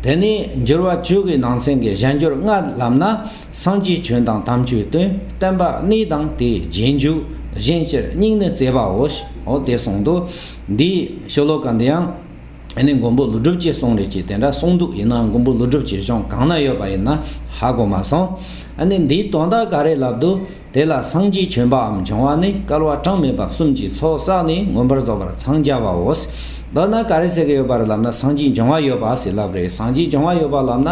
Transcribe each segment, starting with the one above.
དེ་ནས་འགྱུར་བ་བཅུ་གའི་ནང་ཚན་གྱི་གཞན་འགྱུར་ལྔ་ལམ་ན་སངས་རྒྱས་བྱོན་དང་དམ་ཆོས་དོན་བསྟན་པ་གནས་དང་དེའི་རྗེས་འཇུག་གཞན་སྤྱིར་སྙིང་ནི་བརྩེ་བའོ་ཞེས་དེ་གསུངས་འདུག་འདིའི་ཤོ་ལོ་ཀ་འདི་ཡང་ཨ་ནི་མགོན་པོ་ལུས་གྲུབ་ཀྱིས་གསུངས་རེད་ཅེས་དེ་འདྲ་གསུངས་འདུག་ཡིན་ནའང་མགོན་པོ་ལུས་གྲུབ་ཀྱི་གཞུང་གང་ན་ཡོད་པ་ཡིན་ན་ཧ་གོ་མ་སོང་ཨ་ནི་འདིའི་དོན་དག་ག་རེ་ལབ་འདུག། དེ་ལ་སངས་རྒྱས་བྱོན་པའམ་བྱུང་བ་ནི་སྐལ་བ་གྲངས་མེད་པ་གསུམ་གྱི་ཚོགས་བསགས་ནས་མངོན་པར་རྫོགས་པར་འཚང་རྒྱ་བའོ། མདོར་ན་ག་རེ་ཟེར་གྱི་ཡོད་པར་ལབ་ན་སངས་རྒྱས་འབྱུང་བ་ཡོད་པ་ཟེར་ལབ་རེད་སངས་རྒྱས་འབྱུང་བ་ཡོད་པར་ལབ་ན།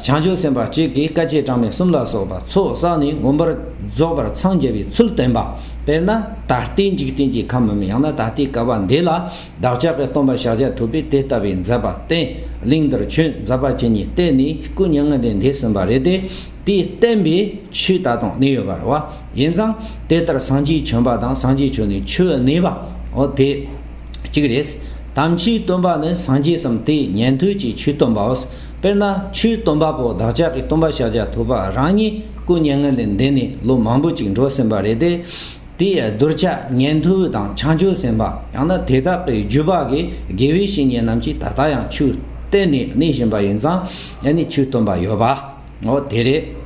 བྱང་ཆུབ་སེམས་དཔའ་གཅིག་གིས་སྐལ་བརྒྱད་གྲངས་མེད་གསུམ་ལ་སོགས་པ་ཚོགས་བསགས་ནས་མངོན་པར་རྫོགས་པར་འཚང་རྒྱ་བའི་ཚུལ་སྟོན་པ། དཔེར་ན་ད་ལྟའི་འཇིག་རྟེན་གྱི་ཁམས་མམ་ཡང་ན་ད་ལྟའི་སྐལ་བ་འདི་ལ་བདག་ཅག་གི་སྟོང་པ་ཕྱག་རྒྱ་ཐུབ་པས་དེ་ལྟ་བུའི་མཛད་པ་བསྟན། གླིང་འདིར་ཁྱོད་མཛད་པ་བྱས་ནས་བལྟས་ནས་སྐུ་མྱ་ངན་ལས་འདས་ཟིན་པ་རེད་དེ། དེས་བསྟན་པའི་ཆོས་ད་དུང་གནས་ཡོད་པར་རོ། ཡིན་ཙང་དེ་ལྟར་སངས་རྒྱས་བྱོན་པ་དང་སངས་རྒྱས་བྱོན་ནས་ཆོས་གནས་པའོ་དེ་གཅིག་རེད། དམ་ཆོས་སྟོན་པ་ནི་སངས་རྒྱས་སམ་དེས་ཉན་ཐོས་ཀྱི་ཆོས་སྟོན་པའོ། དཔེར་ན་ཆོས་སྟོན་པ་པོ་བདག་ཅག་གི་སྟོན་པ་ཤཱཀྱ་ཐུབ་པ་རང་ཉིད་སྐུ་བརྙན་ངན་ལས་འདས་ནས་ལོ་མང་པོ་ཅིག་འགྲོ་ཟིན་པ་རེད་དེ། དེའི་གདུལ་བྱ་ཉན་ཐོས་དང་བྱང་ཆུབ་སེམས་དཔའ་ཡང་ན་དེ་དག་གི་རྒྱུད་པ་གི་དགེ་བའི་བཤེས་གཉེན་རྣམས་ཀྱིས་ད་ལྟ་ཡང་ཆོས་བསྟན་ནས་གནས་བཞིན་པ་ཡིན་ཙང་ཡང་ནི་ཆོས་སྟོན་པ་ཡོད་པ། འོ་དེ་རེད།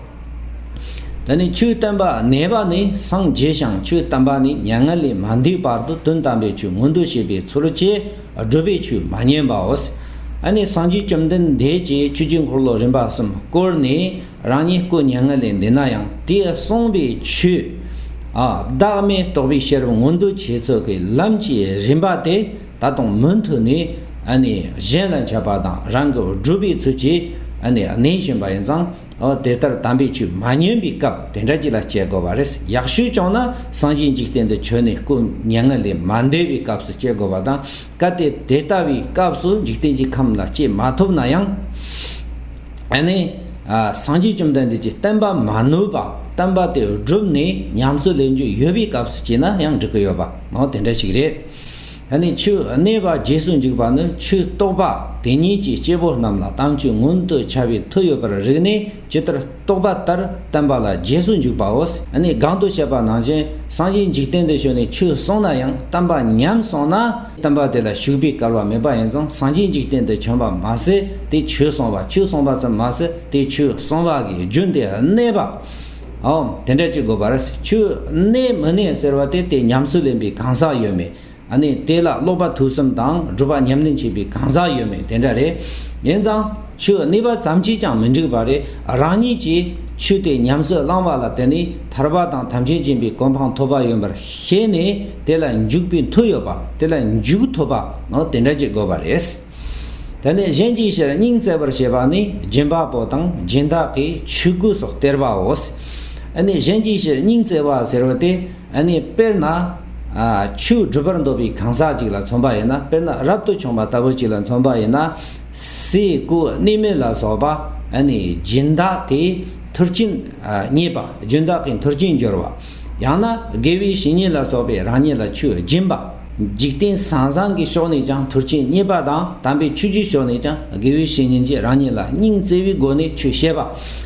ད་ནི་ཆོས་བསྟན་པ་ནད་པ་ནི་སངས་རྒྱས་ཤིང་ཆོས་བསྟན་པ་ནི་མྱ་ངན་ལས་མ་འདས་བར་དུ་དོན་དམ་པའི་ཆོས་མངོན་དུ་བྱེད་པའི་ཚུལ་བཅས་བསྒྲུབ་པའི་ཆོས་མ་ཉན་པའོ། ད་ནི་སངས་རྒྱས་བཅོམ་ལྡན་འདས་ཀྱིས་ཆོས་ཀྱི་འཁོར་ལོ་རིམ་པ་གསུམ་བསྐོར་ནས་རང་ཉིད་སྐུ་མྱ་ངན་ལས་འདས་ན་ཡང་དེས་གསུངས་པའི་ཆོས། བདག་མེད་རྟོགས་པའི་ཤེས་རབ་མངོན་དུ་བྱེད་ཚུལ་གྱི་ལམ་གྱི་རིམ་པ་དེ། ད་དུང་མུ་མཐུད་ནས་གཞན་ལ་འཆད་པ་དང་རང་གི་སྒྲུབ་པའི་ཚུལ་གྱིས་གནས་བཞིན་པ་ཡིན་ཙང་དེ་ལྟར་དམ་པའི་ཆོས་མ་ཉོན་པའི་སྐབས་དེ་འདྲ་ཅིག་ལ་སྤྱད་དགོས་པ་རེད། ཡག་ཤོས་བྱུང་ན་སངས་རྒྱས་འཇིག་རྟེན་དུ་བྱོན་ནས་སྐུ་བརྙན་ལྔ་ལས་མ་འདས་པའི་སྐབས་སུ་སྤྱད་དགོས་པ་དང་གལ་ཏེ་དེ་ལྟ་བུའི་སྐབས་སུ་འཇིག་རྟེན་གྱི་ཁམས་ལ་སྤྱད་མ་ཐུབ་ན་ཡང། སངས་རྒྱས་བཅོམ་ལྡན་འདས་ཀྱི་བསྟན་པ་མ་ནོར་བར་བསྟན་པ་དེ་བསྒྲུབས་ནས་ཉམས་སུ་ལེན་རྒྱུ་ཡོད་པའི་སྐབས་སུ་སྤྱད་ན་ཡང་འགྲིག་གི་ཡོད་པ་དེ་འདྲ་ཞིག་རེད། ད་ནི་ཆོས་གནས་པ་རྗེས་སུ་འཇུག་པ་ནི་ཆོས་རྟོགས་པ་དེ་ཉིད་ཀྱིས་སྐྱེ་བོ་རྣམས་ལ་དམ་ཆོས་མངོན་དུ་བྱ་བའི་མཐུ་ཡོད་པར་རིག་ནས་ཇི་ལྟར་རྟོགས་པ་ལྟར་བསྟན་པ་ལ་རྗེས་སུ་འཇུག་པའོ། ད་ནི་གང་དུ་བྱས་པ་ནང་བཞིན་སངས་རྒྱས་འཇིག་རྟེན་དུ་བྱོན་ནས་ཆོས་གསུངས་ན་ཡང་བསྟན་པ་ཉམས་སོང་ན། བསྟན་པ་དེ་ལ་ཞུགས་པའི་སྐལ་བ་མེད་པ་ཡིན་ཙང་སངས་རྒྱས་འཇིག་རྟེན་དུ་བྱོན་པ་མ་ཟད་དེ་ཆོས་གསུངས་པ་ཆོས་གསུངས་པ་ཙམ་མ་ཟད་དེ་ཆོས་གསུངས་པ་གི་རྒྱུན་དེ་གནས་པ། ཨོའམ་དེ་འདྲ་ཅིག་དགོས་པ་རེད། ཆུ་གནས་མི་གནས་ཟེར་བ་དེ་དེ་ཉམས་སུ་ལེན་པའི་གང་ཟག་ཡོད་མེད། ཨ་ནི་དེ་ལ་ཀློག་པ་དུས་གསུམ་དང་སྒྲུབ་པ་ཉམས་ལེན་བྱེད་པའི་གང་ཟག་ཡོད་མེད་དེ་འདྲ་རེད། ཡིན་ཙང་ཆུ་གནས་པ་ཙམ་གྱིས་ཀྱང་མི་འགྲིག་པ་རེད། རང་ཉིད་ཀྱིས་ཆུ་དེ་ཉམས་སུ་བླངས་པ་ལ་བརྟེན་ནས་ཐར་པ་དང་ཐམས་ཅད་འབྱིན་པའི་གོ་འཕང་ཐོབ་པ་ཡིན་པར་ཤེས་ནས་དེ་ལ་འཇུག་པའི་མཐུ་ཡོད་པ་དེ་ལ་འཇུག་ཐུབ་པ་ཨོ་དེ་འདྲ་ཅིག་དགོས་པ་རེད། དེ་ནས་གཞན་གྱི་ཕྱིར་སྙིང་བརྩེ་བར་བྱེད་པ་ནི་སྦྱིན་པ་པོ་དང་སྦྱིན་བདག་གི་ཆོས་གོས་སོགས་སྟེར་བའོ། འདི་ནི་གཞན་གྱི་ཕྱིར་སྙིང་བརྩེ་བ་ཟེར་བ་སྟེ། འདི་ནི་དཔེར་ན། ཆུ་སྒྲུབ་པར་འདོད་པའི་གང་ཟག་ཅིག་ལ་མཚོན་པ་ཡིན་ན་དཔེར་ན་རབ་ཏུ་བྱུང་བ་ལྟ་བུ་ཅིག་ལ་མཚོན་པ་ཡིན་ན། སའི་གོས་གནས་མལ་ལ་སོགས་པ་ནི་སྦྱིན་བདག་གི་མཐུར་སྤྱིན་རྙེད་པ་སྦྱིན་བདག་གི་མཐུར་སྤྱིན་སྦྱོར་བ། ཡང་ན་དགེ་བའི་བཤེས་གཉེན་ལ་སོགས་པས་རང་ཉིད་ལ་ཆུ་སྦྱིན་པ། འཇིག་རྟེན་ཟང་ཟང་གི་ཕྱོགས་ནས་ཀྱང་དུར་ཆེན་རྙེད་པ་དང་དམ་པའི་ཆོས་རྒྱུད་ཕྱོགས་ནས་ཀྱང་དགེ་བའི་བཤེས་གཉེན་གྱིས་རང་ཉིད་ལ་སྙིང་བརྩེ་བའི་སྒོ་ནས་ཆོས་བཤད་པ།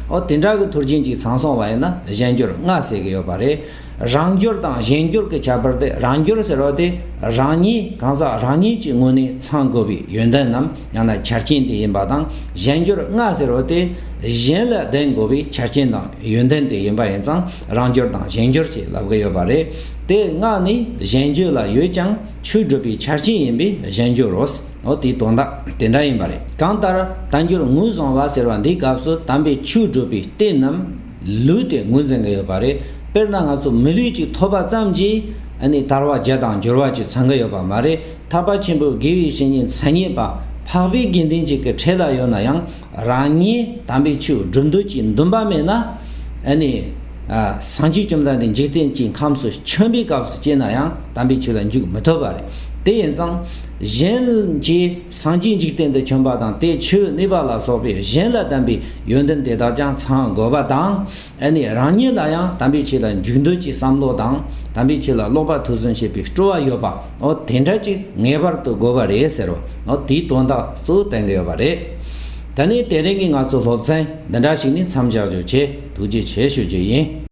ཨོ་དེ་འདྲ་གི་དུར་ཆེན་གཅིག་ཚང་སོང་བ་ཡིན་ན་གཞན་སྐྱོར་ལྔ་ཟེར་གི་ཡོད་པ་རེད། རང་སྐྱོར་དང་གཞན་སྐྱོར་གི་ཁྱད་པར་དེ་རང་སྐྱོར་ཟེར་བ་དེ་རང་ཉིད་གང་ཟག་རང་ཉིད་ཀྱི་ངོས་ནས་ཚང་དགོས་པའི་ཡོན་ཏན་ནམ་ཡང་ན་ཆ་རྐྱེན་དེ་ཡིན་པ་དང་གཞན་སྐྱོར་ལྔ་ཟེར་བ་དེ་གཞན་ལ་ལྡན་དགོས་པའི་ཆ་རྐྱེན་དང་ཡོན་ཏན་དེ་ཡིན་པ་ཡིན་ཙང་རང་སྦྱོར་དང་གཞན་སྦྱོར་ཞེས་ལབ་ཀི་ཡོད་པ་རེད་དེ་སྔགས་ནི་གཞན་བརྗོད་ལ་ཡོད་ཀྱང་ཆོས་སྒྲུབ་པའི་ཆ་རྐྱེན་ཡིན་པས་གཞན་སྦྱོར་རོ། འོ་དེའི་དོན་དག་དེ་འདྲ་ཡིན་པ་རེད་གང་ལྟར་དལ་འབྱོར་ངོས་བཟུང་བ་ཟེར་བ་འདིའི་སྐབས་སུ་དམ་པའི་ཆོས་སྒྲུབ་པའི་རྟེན་ནམ་ལུས་དེ་ངོས་འཛིན་གི་ཡོད་པ་རེད་དཔེར་ན་ང་ཚོ་མི་ལུས་ཅིག་ཐོབ་པ་ཙམ་གྱིས་ནི་དར་བ་བརྒྱ་དང་སྦྱོར་བ་ཅིག་ཚང་གི་ཡོད་པ་མ་རེད་ཐར་པ་ཆེན་པོའི་དགེ་བའི་བཤེས་གཉེན་མཚན་ཉིད་པ་འཕགས་པའི་དགེ་འདུན་ཅིག་གི་གྲས་ལ་ཡོད་ན་ཡང་རང་ཉིད་དམ་པའི་ཆོས་བསྒྲུབ་འདོད་ཀྱི་འདུན་པ་མེད་ན། ནི། སངས་རྒྱས་བཅོམ་ལྡན་འདས་འཇིག་རྟེན་གྱི་ཁམས་སུ་ཆེན་པོའི་སྐབས་སུ་སྐྱེས་ན་ཡང་དམ་པའི་ཆོས་ལ་འཇུག་མི་ཐུབ་པ་རེད། དེ་ཡིན་ཙང། གཞན་གྱིས་སངས་རྒྱས་འཇིག་རྟེན་དུ་བྱོན་པ་དང་དེའི་ཆོས་གནས་པ་ལ་སོགས་པའི་གཞན་ལ་དམ་པའི་ཡོན་ཏན་དེ་དག་ཀྱང་ཚང་དགོས་པ་དང། ཨ་ནི་རང་ཉིད་ལ་ཡང་དམ་པའི་ཆོས་ལ་འཇུག་འདོད་ཀྱི་བསམ་བློ་དང་དམ་པའི་ཆོས་ལ་ཀློག་པ་ཐུགས་བཟུང་བྱེད་པའི་སྤྲོ་བ་ཡོད་པའོ་དེ་འདྲ་ཅིག་ངེས་པར་དུ་དགོས་པ་རེད་ཟེར་རོ་དེའི་དོན་དག་གཙོ་བོ་བསྟན་གྱི་ཡོད་པ་རེད། ད་ནི་དེ་རིང་གི་ང་ཚོའི་སློབ་ཚན་འདི་འདྲ་ཞིག་ནི་མཚམས་བཞག་རྒྱུ་བྱས་ཐུགས་རྗེ་ཆེ་ཞུ་རྒྱུ་ཡིན།